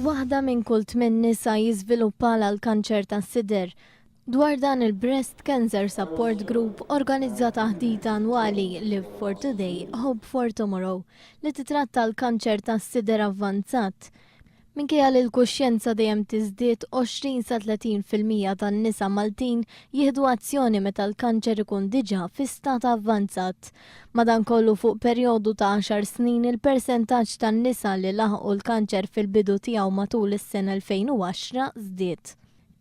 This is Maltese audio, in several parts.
Waħda minn kull tmien nisa jiżviluppalha l-kanċer tas-sider. Dwar dan il-Breast Cancer Support Group organizza taħdita annwali Live for Today, Hope for Tomorrow li titratta l-kanċer tas-sider avvanzat. Minkejja li l-kuxjenza dejjem tiżdied, 20 sa 30 fil-mija tan-nisa Maltin jieħdu azzjoni meta l-kanċer ikun diġà fi stat avvanzat. Madankollu fuq perjodu ta' għaxar snin il-persentaġġ tan-nisa li laħqu l-kanċer fil-bidu tiegħu matul is-sena 2010 żdied.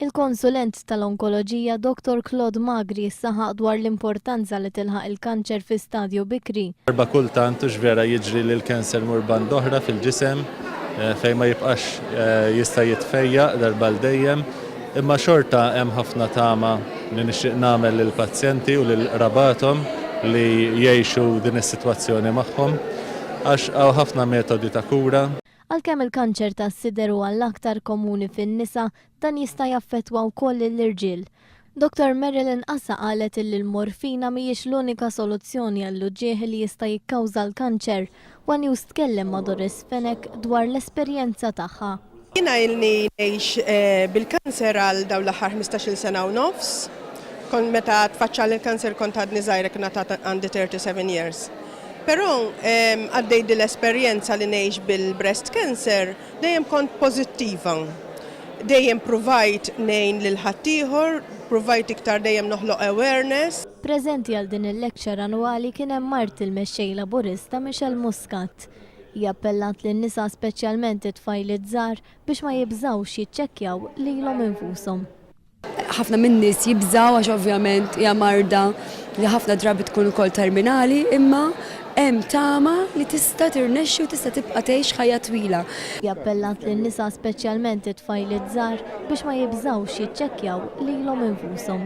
Il-konsulent tal-onkoloġija Dottor Claude Magri saħaq dwar l-importanza li tilħaq il-kanċer fi stadju bikri. Darba kultant hux vera jiġri li l-cancer imur band oħra fil-ġisem fejn ma jibqax jista' jitfejjaq darba għal dejjem, imma xorta hemm ħafna tama li nixtieq nagħmel lill-pazjenti u lil qrabathom li jgħixu din is-sitwazzjoni magħhom għax hawn ħafna metodi ta' kura. Għalkemm il-kanċer tas-sider huwa l-aktar komuni fin-nisa, dan jista' jaffettwa wkoll lill-irġiel. Dottor Marilyn Casa qalet illi l-morfina mhijiex l-unika soluzzjoni għall-uġigħ li jista' jikkawża l-kanċer. One News tkellem ma' Doris Fenech dwar l-esperjenza tagħha. Jiena ilni ngħix bil-kanser għal dawn l-aħħar ħmistax-il sena u nofs. Kont meta tfaċċali l-kanser kont għadni żgħira kien għad għandi 37 years. Però għaddej din l-esperjenza li ngħix bil-breast cancer, dejjem kont pożittiva. Dejjem pruvajt ngħin lil ħaddieħor, pruvajt iktar dejjem noħloq awareness. Preżenti għal din il-lecture annwali kien hemm mart il-Mexxej Laburista Michelle Muscat. Hi appellat lin-nisa speċjalment it-tfajliet żgħar biex ma jibżgħux jiċċekkjaw lilhom infushom. Ħafna min-nies jibżgħu għax ovvjament hija marda li ħafna drabi tkun ukoll terminali, imma hemm tama li tista' tirnexxi u tista' tibqa' tgħix ħajja twila. Hi appellat lin-nisa speċjalment it-tfajliet żgħar biex ma jibżgħux jiċċekkjaw lilhom infushom.